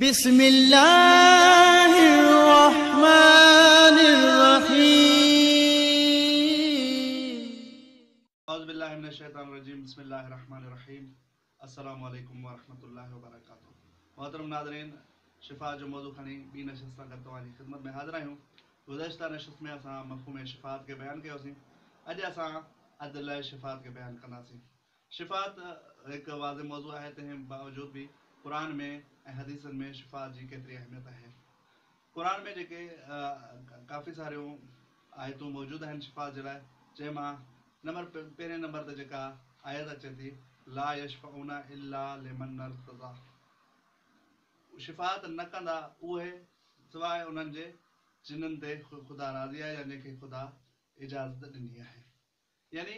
بسم الله الرحمن الرحيم. اعوذ بالله من الشيطان الرجيم بسم الله الرحمن الرحيم السلام عليڪم ورحمة الله وبرڪاته محترم ناظرين شفاء جو موضوع کڻي ٻي نشست سان گڏ توهان جي خدمت ۾ حاضر آهيون گذشته نشست ۾ اسان مفهوم شفاعت کي بيان ڪيوسين اڄ اسان عدل شفاعت کي بيان ڪنداسين شفاعت هڪ واضح موضوع آهي تنهن باوجود به قرآن ۾ ۽ حديثن ۾ شفاعت جي ڪيتري اهميت آهي. قرآن ۾ جيڪي ڪافي ساريون آيتون موجود آهن شفاعت جي لاء جنهن مان نمبر پهرين نمبر تي جيڪا آيت اچي ٿي لا يشفعون الا لمن ارتضا هو شفاعت نه ڪندا اهي سواء انهن جي جنن تي خدا راضي آهي يا جنهن کي خدا اجازت ڏني آهي يعني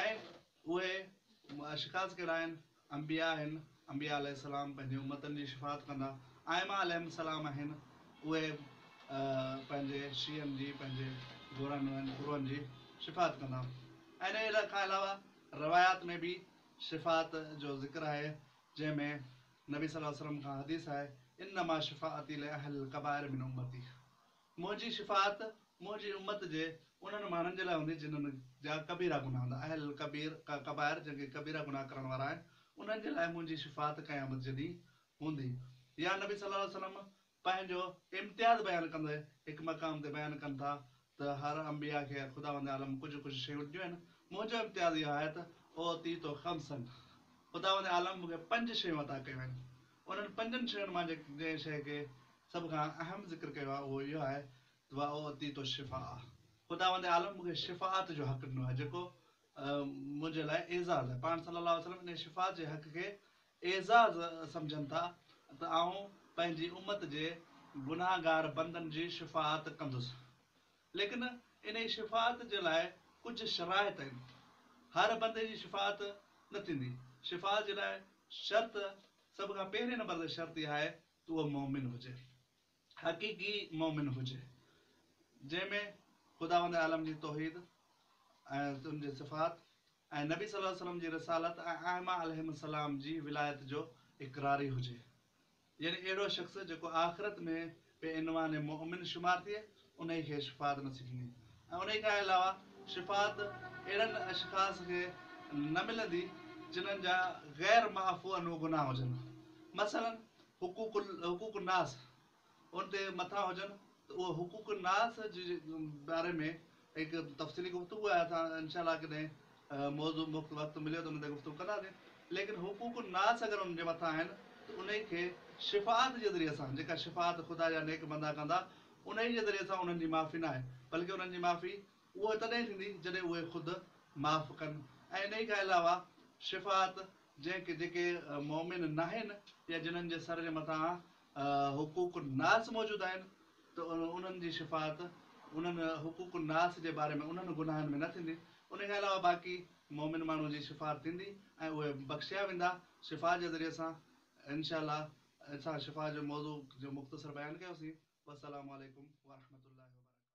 ۽ اهي شڪاس ڪهڙا آهن؟ انبياء آهن، انبياء عليه السلام پنهنجي امتن جي شفاعت ڪندا، ائمه عليهم السلام آهن، اهي پنهنجي شيعن جي، پنهنجي گورن ۽ گروهن جي شفاعت ڪندا ۽ ان کان علاوه روايات ۾ به شفاعت جو ذڪر آهي جنهن ۾ نبي صلي الله عليه وسلم کان حديث آهي، انما شفاعتي لاهل الڪبائر من امتي. منهنجي شفاعت منهنجي امت جي انهن ماڻهن جي لاء هوندي جنهن جا ڪبيرا گناهه هوندا، اهل الڪبير، ڪبائر، جن ڪي ڪبيرا گناهه ڪرڻ وارا آهن، انهن جي لاء منهنجي شفاعت قيامت جي ڏينهن هوندي. يا نبي صلي الله عليه وسلم پنهنجو امتياز بيان ڪندي هڪ مقام تي بيان ڪن ٿا ته هر انبياء کي خداوند عالم ڪجهه ڪجهه شيون ڏنيون آهن، منهنجو امتياز اهو آهي ته اعطيت خمسا خداوند عالم مون کي پنج شيون عطا ڪيون آهن، انهن پنجن شين مان جنهن شيء کي سڀ کان اهم ذڪر ڪيو آهي اهو اهو آهي ته واعطيت الشفاء خداوند عالم مون کي شفاعت جو حق ڏنو آهي جيڪو منهنجي لاء اعزاز آهي پاڻ صلي الله عليه وسلم انهيء شفاعت جي حق کي اعزاز سمجهن ٿا ته آئون پنهنجي امت جي گنهگار بندن جي شفاعت ڪندس. ليڪن انهيء شفاعت جي لاء ڪجهه شرائط آهن. هر بندي جي شفاعت نه ٿيندي. شفاعت جي لاء شرط سڀ کان پهرين نمبر تي شرط اها آهي ته اهو مؤمن هجي. حقيقي مؤمن هجي. جنهن ۾ خداوند عالم جي توحيد ۽ ان جي صفات ۽ نبي صلّي اللّٰه عليه وسلّم جي رسالت ۽ ائمه عليهم السّلام جي ولايت جو اقراري هجي. يعني اهڙو شخص جيڪو آخرت ۾ بي عنوان مؤمن شمار ٿئي انهي کي شفاعت نه ٿيندي ۽ انهي کان علاوه شفاعت اهڙن اشخاص کي نه ملندي جنهن جا غير معفو عنه گناهه هجن مثلاً حقوق حقوق الناس ان تي مٿان هجن ته اهو حقوق الناس جي باري ۾ هڪ تفصيلي گفتگو آهي اسان انشاء الله ڪڏهن موضوع مفت وقت مليو ته ان تي گفتگو ڪنداسين ليڪن حقوق الناس اگر ان جي مٿان آهن ته انهي کي شفاعت جي ذريعي سان جيڪا شفاعت خدا جا نيڪ بندا ڪندا انهي جي ذريعي سان انهن جي معافي نه آهي بلڪه انهن جي معافي اهي تڏهن ٿيندي جڏهن اهي خود معاف ڪن ۽ انهي کان علاوه شفاعت جنهن کي جيڪي مؤمن ناهن يا جنهن جي سر جي مٿان حقوق الناس موجود آهن ته انهن جي شفاعت انهن حقوق الناس جي باري ۾ انهن گناهن ۾ نه ٿيندي، ان کان علاوه باقي مؤمن ماڻهن جي شفاعت ٿيندي ۽ اهي بخشيا ويندا شفاعت جي ذريعي سان انشاء الله اسان شفاعت جي موضوع جو مختصر بيان ڪيوسين والسلام عليڪم ورحمة الله وبرڪاته.